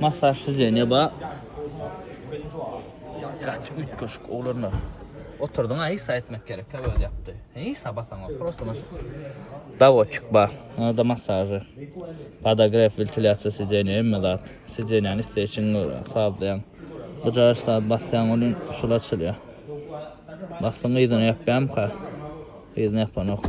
Massaj sidzeniýe ba. Gaty üýtgeşik oglanlar. Oturdyň aý sa etmek gerek ka öz ýapdy. Heý sa basaňa prosta mas. Dawoçyk ba. Onda massajy. Padagref wentilýasiýa sidzeniýe hemme zat. Sidzeniýäni isleýşiň görä sazlaýaň. Bujar saat basýaň ony şul açylýa. Basdyň yzyny ýapýamyka. Yzyny ýapanok.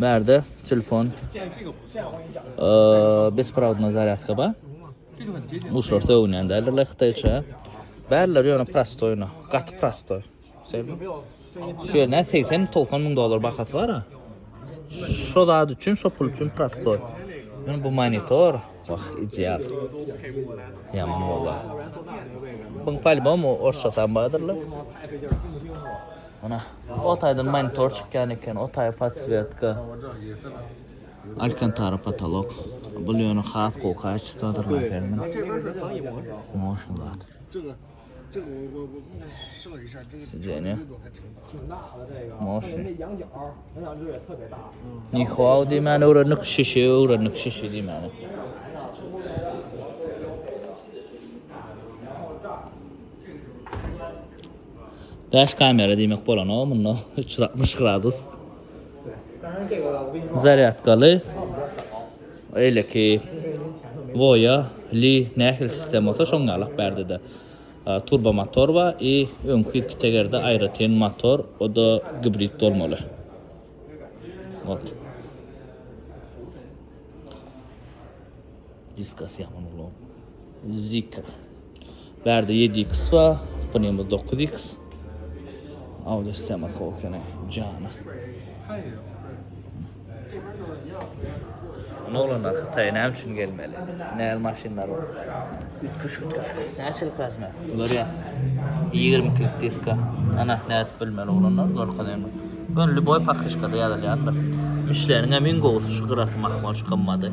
Bärde telefon besprovodna zarýadka bar. Uşlar sögünýän däldirler hytaýça. Bärler ýöne prostoýna, gaty prostoý. Şu ýerine 80-90 müň dollar bahasy bar. Şo zat üçin, şo pul üçin prostoý. Men bu monitor, wah, ideal. Ýaman bolýar. Bu albom orsça tam bardyrlar. Ana, o taýdan monitor çykýan eken, o taý podswetka, alkantara potolok. Bul ýöne has gowy kaçestwadyr laseriniň. Motion zat. Sidzeniýe. Motion. Nihwao diýmäni öwrendik, şişi öwrendik, şişi diýmäni. Bäş kamera diýmek bolanok munda üç ýüz altmyş gradus. Zarýadkaly. Eýleki Voya, Li nähili sistema bolsa şoň ýalak bärde-de. Turbo motor bar i öňki ýüzki tegerde aýratyn motor, o-da gibrid bolmaly. Ot. Diskas ýapyny Zikr. Bärde ýedi iks bar, bunymyz dokuz iks. Audi sema sow kene jana. Ony oglanlar hytaýa näme üçin gelmeli? Näz maşynlar bar. Ütgüş ütgüş. Näçelik razmer? Bular ýaz. Ýigrimi ikilik diska. Ana nädip bilmeli oglanlar görkez endi. Ýöne lýuboý pakryşkada ýazylýandyr. Mişleniň hem iň gowusy şu gyrasy mahmal şu gymmady.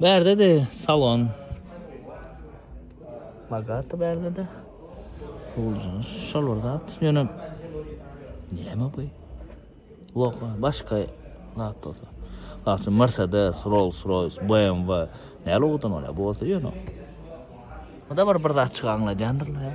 Bärde-de salon. Bogata bärde-de. Gowuljyň şol bir zat. Ýöne näme bu? Logo başga zat bolsa. Aslynda Mercedes, Rolls-Royce, BMW näme logodan bolýar? Bu bolsa ýöne. Muňa bir bir zat çykaňladýandyrlar.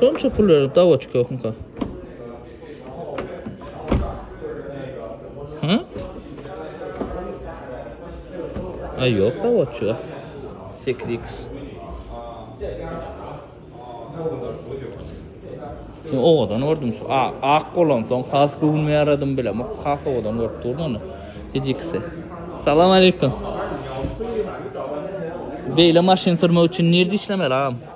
Şonça pul berip dawa çykyokmyka? Hä? Ay yok dawa çykyok. 8x. Sen owadan gördüm şu ak bolan soň has göwnüme ýaradym bilem. Has owadan görüp durdum ony. Hijikse. Salam aleyküm. Beýle maşyn sürmek üçin nirde işlemeli agam?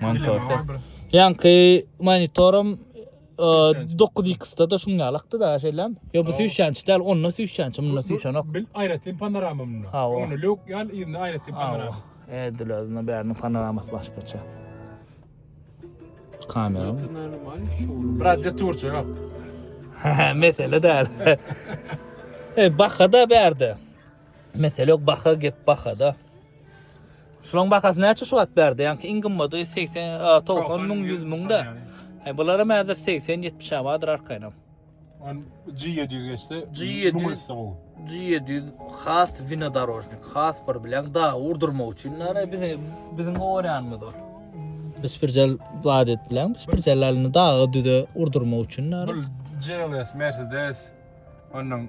Monitorda. Ýanky monitorum 9x-da da şuň ýalakdy da şeýlem. Ýa bu süýşänç däl, onda süýşänç, munda süýşänok. Bil aýratyn panorama munda. Ha, o. Onda lok ýal, ýa aýratyn panorama. Edil özüne bärini panoramasy başgaça. Kamera. Bratja turçu ýok. Mesele däl. E, bahada bärde. Mesele ýok, baha gep bahada. Şularyň bahasy näçe şu wagt bärde? Ýaňky iň gymmady 80, 90 müň, 100 müňde. Aý bularam häzir 80-70 awadyr arkaýynam. G700 geçse, G700 G700 has winodorожnik, has bir bilen da urdurmak üçin näre bizi biziň gorýanymyz o. Biz bir jel zat et bilen, biz bir jelalini daga düze urdurmak üçin näre. Bu GLS Mercedes ondan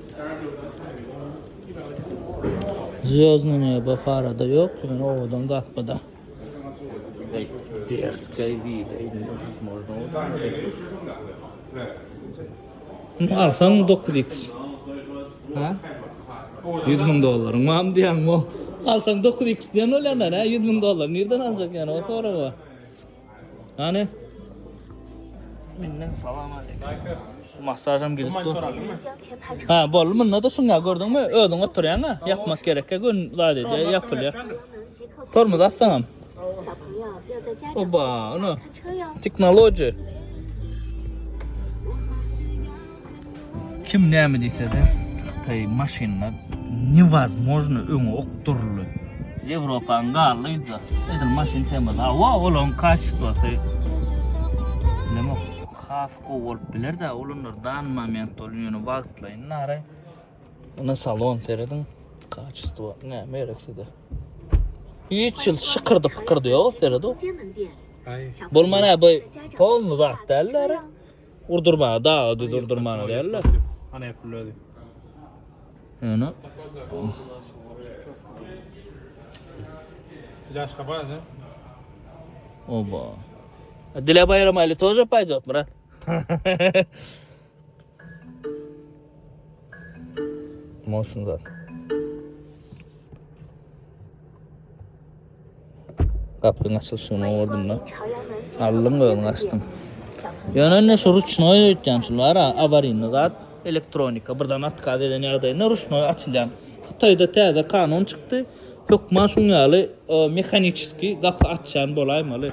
Zýozdny neba farada ýok ýöne owadan zat buda. Derskay wida indi biz morda oda. Bunu alsan 9x. Ha? 100 ming dollaryň mam diýen bu. Alsan 9x diýen ol ýandan ha 100 ming dollar nirden aljak ýana o sorag o. Nane. Menden salam aleyküm. Masajam gidip dur. Ha, boldu munda da şunga gördüňmi? Özüň oturýan ha. Ýapmak gerek ýok, ön zat edýä, ýapylýar. Tormuz atsaňam. Oba, ana. Teknologiýa. Kim näme diýse-de, hytaý maşynlar newazmojno öňe okduryldy. Ýewropany galdy yzda. Edil maşyn tema. Hawa, olaryň kaçestwasy bilemok. Has gowy bolup biler-dä, olanlar dany moment boldy, ýöne wagtlaýyn nara. Ine salon serediň, kaçestwa näme gerek size. Hiç hil şykyrdy-pykyrdy ýok, sered-ow. Bolman-a bu polny zat däl-dä. Urdurmaga daga düz urdurmaga däl-de. Ana ýapyl özi. Ýöne. Ilaç kapaýa da. Oba. Dile bayramayla toza paydos mı lan? Motion zaten. Gapyň açylyşyny gördüm ben. Aldım gözüňi açdym. Ýöne indi şu ruşnoý öýtýän şu bar ha, awaryny zat, elektronika birden atkaz eden ýagdaýynda ruşnoý açylýan. Hytaýda täze kanun çykdy. Hökman şuň ýaly mehaniçeski gapy açýan bolaýmaly.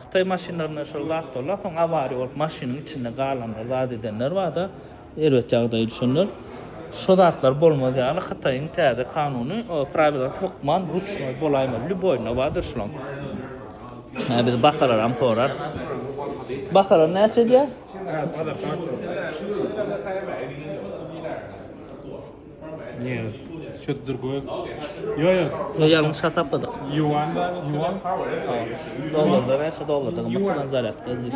Hytaý maşynlarynda şol zat bolýar, soň awariýa bolup maşynyň içinde galanlar zat edenler barda, Erbet ýagdaýa düşenler şo zatlar bolmaz ýaly Hytaýyň täze kanuny prawilasy hökman ruçnoý bolaýmaly. Lýuboýyna bardyr şulaň. Hä biz bakalaram sorarys. Bakalar näçe edýär? Nje şo durgoý ýoýo. Ýo ýalňyş hasapladyk. Ýuan ýuan. Dollarda näçe dollarda gymmat turan zarýadka edýär.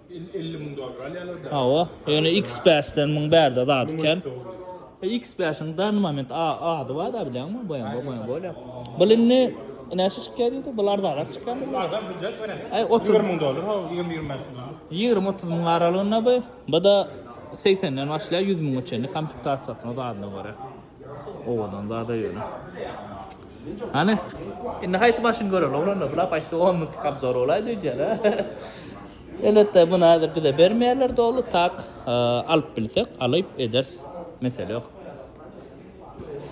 50 müň dollar alýarlar da. Hawa, ýöne X5-den müň bärde zat eken. X5-iň dan moment ady bar da bilýäňmi? Boýan boýan boýan bolýar. Bu indi näçe çykýar diýdi? Bu arzanrak çykýar. Bu arzan hujjat bilen. Aý 30 müň dollar, hawa 20-25 müň. 20-30 müň aralygynda bu. Bu da 80-den başlaýar 100 müňe çenli komplektasiýasyna zadyna görä. Owadan zada ýöne. Hany? Indi haýsy maşyn göreli oglanlar? Bular paşda 10 minut kabzor bolaýdy öýdýän. Elbetde bunu häzir bize bermeýärler dogry, tak e, alyp bilsek, alyp ederis. Mesele ýok.